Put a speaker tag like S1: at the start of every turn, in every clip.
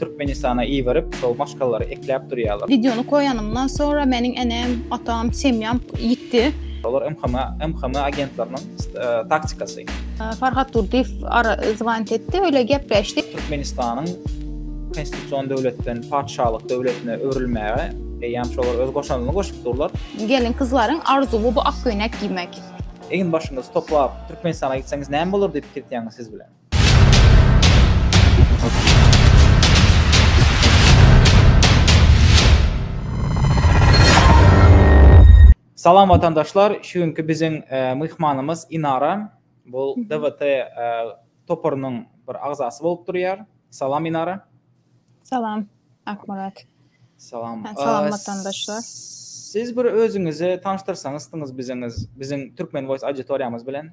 S1: Türkmenistana iberip şol maşgalary ekläp durýalar. Videony koýanymdan
S2: sonra meniň enem, atam, semýam ýitdi. Olar MHM,
S1: MHM agentleriniň taktikasy. Farhat
S2: Durdyýew ara zwonit etdi, öýle gepleşdik. Türkmenistanyň
S1: konstitusion döwletden patyşalyk döwletine öwrülmäge eýýäm şolar öz goşandyny goşup durlar. Gelin-gyzlaryň
S2: arzuwy bu ak köýnek geýmek. Egin-başyňyzy
S1: toplap Türkmenistana gitseňiz näme bolar diýip gitýäňiz siz bilen. Salam watandaşlar, şu günki biziň myhmanymyz Inara. Bu DWT toparynyň bir agzasy bolup durýar. Salam Inara. Salam
S2: Akmyrat. Salam.
S1: Salam watandaşlar.
S2: Siz bir
S1: özüňizi tanyşdyrsaňyzdyňyz biziňiz, biziň Türkmen Voice auditoriýamyz bilen.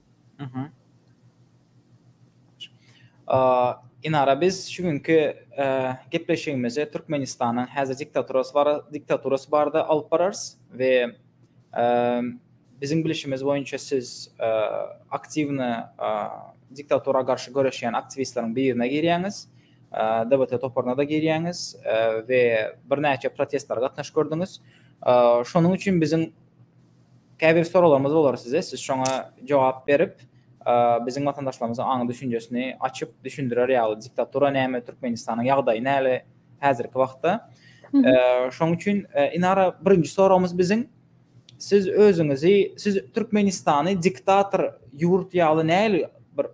S1: Inara biz şu günki gepleşigimizi Türkmenistanyň häzir diktaturasy barada alyp bararys we biziň bilişimiz boýunça siz aktiwny diktatura garşy göreşýän aktiwistleriň birine girýäňiz, DBT toparyna-da girýäňiz we birnäçe protestlere gatnaşyp gördüňiz. Şonuň üçin biziň Käbir soraglarymyz bolar size, siz şoňa jogap berip, biziň watandaşlarymyzyň aňy düşünjesini açyp düşündirer ýaly diktatura näme, Türkmenistanyň ýagdaýy näle häzirki wagtda. Şoň üçin Inara birinji soragymyz biziň siz özüňizi siz Türkmenistany diktator ýurt ýaly näli bir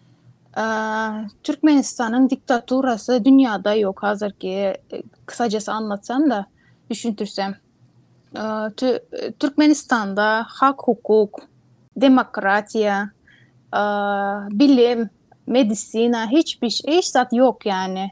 S2: Türkmenistanyň diktaturasy dünýäde ýok hazirki kysajasy anlatsam-da düşündirsem. Türkmenistanda hak hukuk, demokratiýa, bilim, medisina hiç zat ýok ýany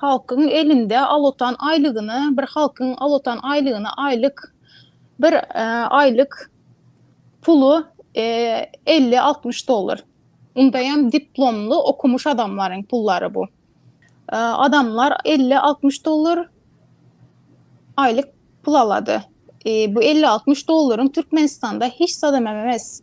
S2: halkyň elinde alatan aýlygyna bir halkyň alatan aýlygyna aýlyk bir aýlyk puly 50-60 dollar. Unda hem diplomly okumuş adamlaryň pullary bu. Adamlar 50-60 dollar aýlyk pul alady. Bu 50-60 dollaryň Türkmenistanda hiç zadam emmes.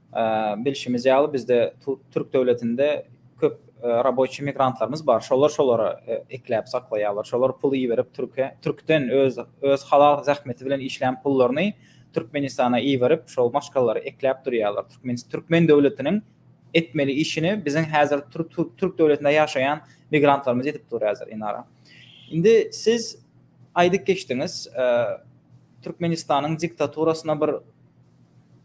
S1: Bilşimiz ýaly, bizde türk döwletinde köp raboçi migrantlarymyz bar. Şolar şolara ekläp saklaýarlar. Şolar pul iberip türke, türkden öz öz halal zähmeti bilen işlän pullaryny Türkmenistana iberip, şol maşgalalary ekläp durýarlar. Türkmen türkmen döwletiniň etmeli işini biziň häzir türk türk döwletinde ýaşaýan migrantlarymyz edip dur häzir Inara. Indi siz aýdyp geçdiňiz, Türkmenistanyň diktaturasyna bir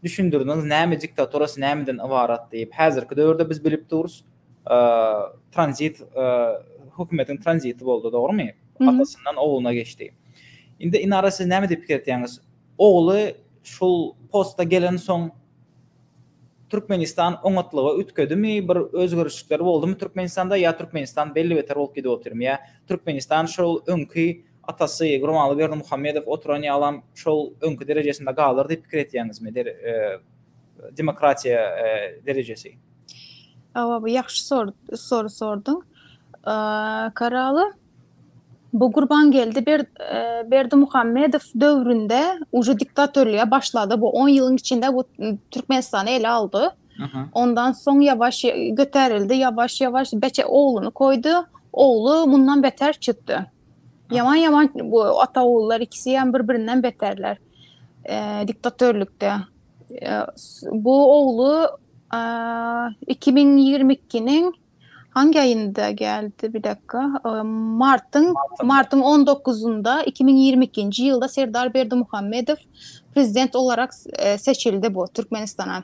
S1: düşündirdiňiz näme diktaturasy nämeden ybarat diýip. Häzirki döwürde biz bilip durus tranzit hökümetiň tranziti boldy dogrymy? Atasyndan ogluna geçdi. Indi Inara siz näme diýip pikir etýäňiz? Ogly şul posta gelen soň Türkmenistan oňatlyga ütküdimi bir özgerişlikler boldumy Türkmenistanda ýa Türkmenistan belli beter bolup gidip otyrmy ýa Türkmenistan şol öňki Atasy Gurbanguly Berdimuhamedow oturan ýalam şol öňki derejesinde galar diýip pikir etýäňizmi? Demokratiýa derejesi. Hawa
S2: bu ýagşy soru sorduň. Karaly bu Gurbangeldi Berdimuhamedow döwründe uje diktatorlyga başlady. Bu on ýylyň içinde bu Türkmenistany ele aldy. Ondan soň ýawaş göterildi, ýawaş-ýawaş beçe ogluny koýdy. Ogly mundan beter çykdy. Ýaman ýaman bu ata ogullar ikisi hem bir birinden beterler. E, diktatörlükde. E, bu oglu e, 2022-niň hangi aýynda geldi bir dakika. E, Martyň Martyň 19-ynda 2022-nji ýylda Serdar Berdimuhamedow prezident olarak e, seçildi bu Türkmenistana.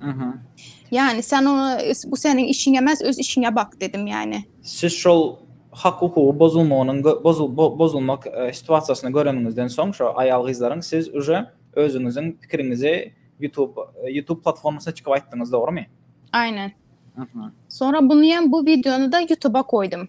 S2: Mhm. Yani sen ona bu senin işin emez, öz işine bak dedim yani. Siz şol
S1: hak hukugy bozulmagynyň bozul bozulmak e, situasiýasyny göreniňizden soň şu aýal gyzlaryň siz uje özüňiziň pikiriňizi YouTube e, YouTube platformasyna çykyp aýtdyňyz, dogrymy? Aynen.
S2: Mhm. Sonra bunu hem bu videonu da YouTube'a koydum.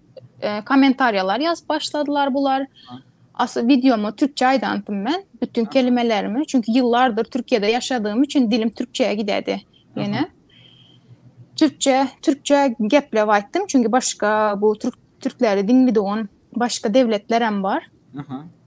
S2: e, kommentariýalar ýazyp başladylar bular. Asy wideoma türkçe aýdantym men bütün kelimelerimi. Çünki ýyllardyr Türkiýede ýaşadygym üçin dilim türkçeye gidedi. Ýene türkçe türkçe geplep aýtdym. Çünki başga bu türk türkleri diňlidigan başga dewletler hem bar. Aha.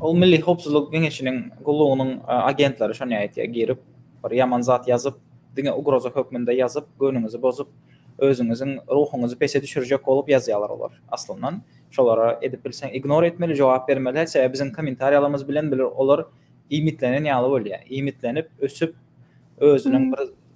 S1: Ol Milli Howpsuzlyk Geňeşiniň gullugynyň agentleri şony aýtýar, girip, bir ýaman zat ýazyp, diňe ugroza hökmünde ýazyp, göwnüňizi bozup, özüňiziň ruhuňyzy pese düşürjek bolup ýazýarlar olar. Aslyndan, şolara edip bilseň ignor etmeli, jogap bermeli, sebäbi biziň kommentariýalarymyz bilen olar iýmitlenen ýaly bolýar. Iýmitlenip, ösüp, özüniň bir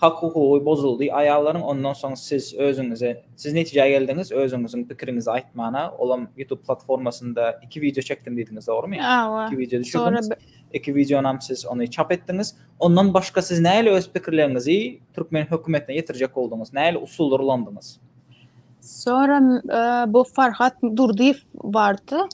S1: Hak hukugy bozuldy aýallaryň ondan soň siz özüňize siz netijä geldiňiz özüňiziň pikiriňizi aýtmana olam ýutub platformasynda iki wideo çekdim diýdiňiz dogrymy Hawa iki wideo düşürdiňiz iki wideonam siz ony çap etdiňiz ondan başga siz näle öz pikirleriňizi türkmen hökümetine ýetirjek bolduňyz näle usullar ulandyňyz.
S2: Sonra bu Farhat Durdyýew bardy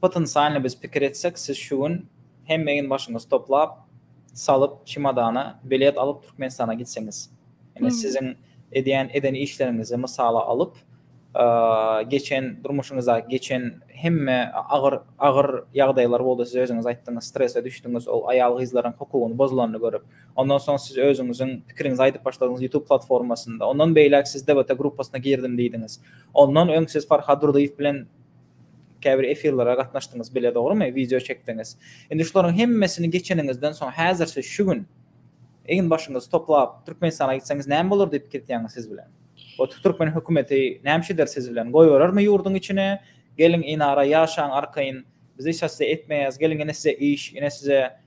S1: Potensialny biz pikir etsek siz şu gün hemme egin başyňyzy toplap salyp çimodana bilet alyp Türkmenistana gitseňiz ine siziň edýän eden işleriňizi mysala alyp geçen durmuşyňyzda geçen hemme agyr agyr ýagdaýlar boldy siz özüňiz aýtdyňyz strese düşdüňiz ol aýal gyzlaryň hukugyny bozulanyny görüp ondan soň siz özüňiziň pikiriňizi aýdyp başladyňyz YouTube platformasynda ondan beýläk siz DBT gruppasyna girdim diýdiňiz ondan öň siz Farhad Durdyýew bilen Käbir efirlere gatnaşdyňyz bile dogrymy? Wideo çekdiňiz. Indi şularyň hemmesini geçeniňizden soň häzirçe şu gün egin başyňyzy toplap Türkmenistana gitseňiz näme bolar diýip pikirtýäňiz siz bilen? O türkmen hökümeti nämçe eder siz bilen? Goýberermi ýurduň içine? Geliň inara ýaşaň arkaýyn. Biz hiç hassy etmeýäs. Geliň ine size iş, ine size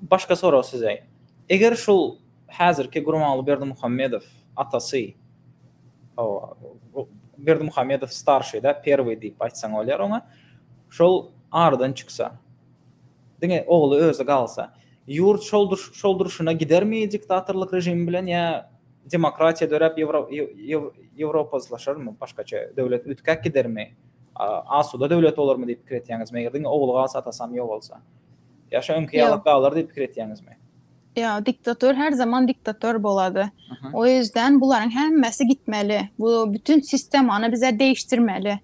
S1: Başga sorag size. Eger şul häzirki Gurbanguly Berdimuhamedow atasy, hawa, Berdimuhamedow starşeýda, perwiý diýip aýtsaň bolýar oňa, şol aradan çyksa, diňe ogly özi galsa, ýurt şol durşuna gidermi diktatorlyk režimi bilen ýa Demokratiýa döräp Ýewropa yslaşarmy, başgaça döwlet üýtgäp gidermi, asuda döwlet bolarmy diýip pikir etýäňizmi? Eger diňe ogly galsa, atasam ýok bolsa. Ýa şo öňki ýaly galar diýip pikir etýäňizmi? Ýok, diktator
S2: her zaman diktator bolady. O ýüzden bularyň hemmesi gitmeli. Bu bütin sistemany bize deýişdirmeli.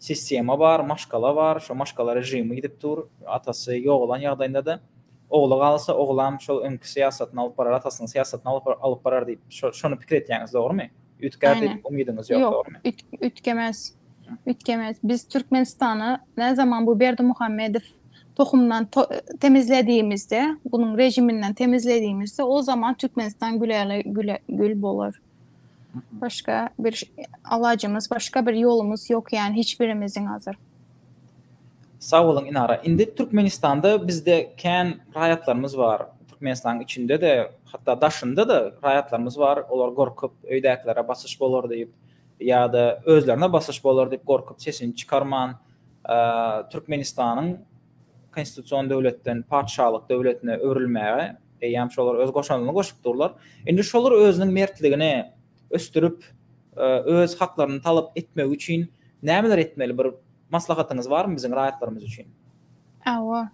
S1: Sistema bar, maşgala bar, şo maşgala režimi gidip dur, atasy ýogalan ýagdaýynda-da, ogly galsa, oglam şol öňki syýasatyny alyp barar, atasynyň syýasatyny alyp alyp barar diýip, şo şony pikir etýäňiz, dogrumy? Üýtgär diýip umydyňyz ýok, dogrumy? Ýok, üýt üýtgemez.
S2: Üýtgemez. Biz Türkmenistany näzaman bu Berdimuhamedow tohumdan to temizlediýimizde, bunuň režiminden temizlediýimizde, o zaman Türkmenistan güläle güle gül bolar. Başga bir alajymyz, başga bir ýolumyz ýok ýaly hiç birimiziň hazir.
S1: Sag boluň Inara. Indi Türkmenistanda bizde kän raýatlarymyz bar. Türkmenistanyň içinde-de, hatda daşynda-da raýatlarymyz bar. Olar gorkup, öýdäkilere basyş bolar diýip ýa-da özlerine basyş bolar diýip gorkup sesini çykarman, Türkmenistanyň konstitusion döwletden patyşalyk döwletine öwrülmäge Eýýäm şolar öz goşandyny goşup durlar. Indi şolar özüniň mertligini ösdürip, öz haklaryny talap etmegi üçin nämeler etmeli? Bir maslahatyňyz barmy biziň raýatlarymyz üçin? Hawa.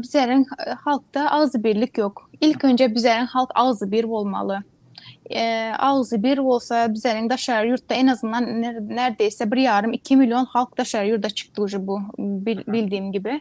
S2: Bizäriň halkda agzybirlik ýok. Ilk önje bizäriň halk agzybir bolmaly. Agzybir bolsa bizäriň daşary ýurtda en azyndan nerdeýse bir ýarym, iki million halk daşary ýurda çykdy uje bu bildiýim gibi.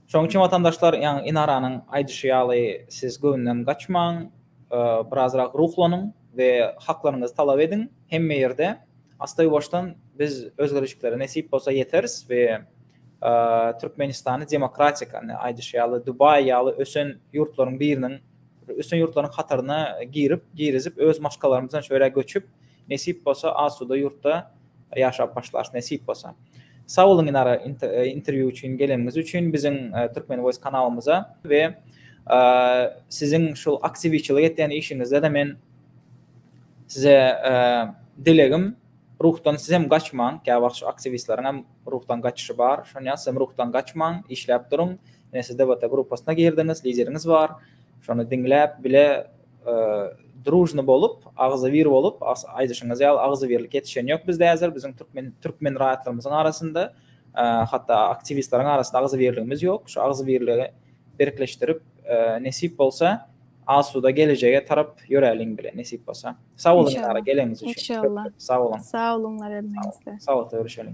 S1: Şonuň üçin watandaşlar, ýa Inaranyň aýdyşy ýaly siz göwünden gaçmaň, birazrak ruhlanyň we haklaryňyzy talap ediň. Hemme ýerde astaýuwaşdan biz özgerişiklere nesip bolsa ýeteris we Türkmenistany demokratik, ine aýdyşy ýaly Dubaý ýaly ösen ýurtlaryň biriniň, ösen ýurtlaryň hataryna girip, girizip öz maşgalarymyz bilen şu ýere göçüp, nesip bolsa asuda ýurtda Ýaşap başlas nesip bolsa. Sag boluň Inara interwýu üçin geleniňiz üçin biziň Türkmen voice kanalymyza we siziň şul aktiwiçilik etýän işiňizdede men size dilegim ruhdan sizem gaçmaň käwagt şu aktiwistleriňem ruhdan gaçyşy bar şonýa sizem ruhdan gaçmaň işläp duruň ine siz debata grupasyna girdiňiz lideriňiz bar şony diňläp bile Drujny bolup, agzybir bolup, aýdyşyňyz ýaly agzybirlik ýetişen ýok bizde häzir, biziň türkmen türkmen raýatlarymyzyň arasynda, hatda aktiwistleriň arasynda agzybirligimiz ýok. Şu agzybirligi berkleşdirip, nesip bolsa, asuda gelejege tarap ýöräliň bile, nesip bolsa. Sag boluň Dilara, geleniňiz
S2: üçin.
S1: Inşallah. Sag boluň.
S2: Sag
S1: boluňlar hemmäňizler.
S2: Sagatda
S1: görüşeliň.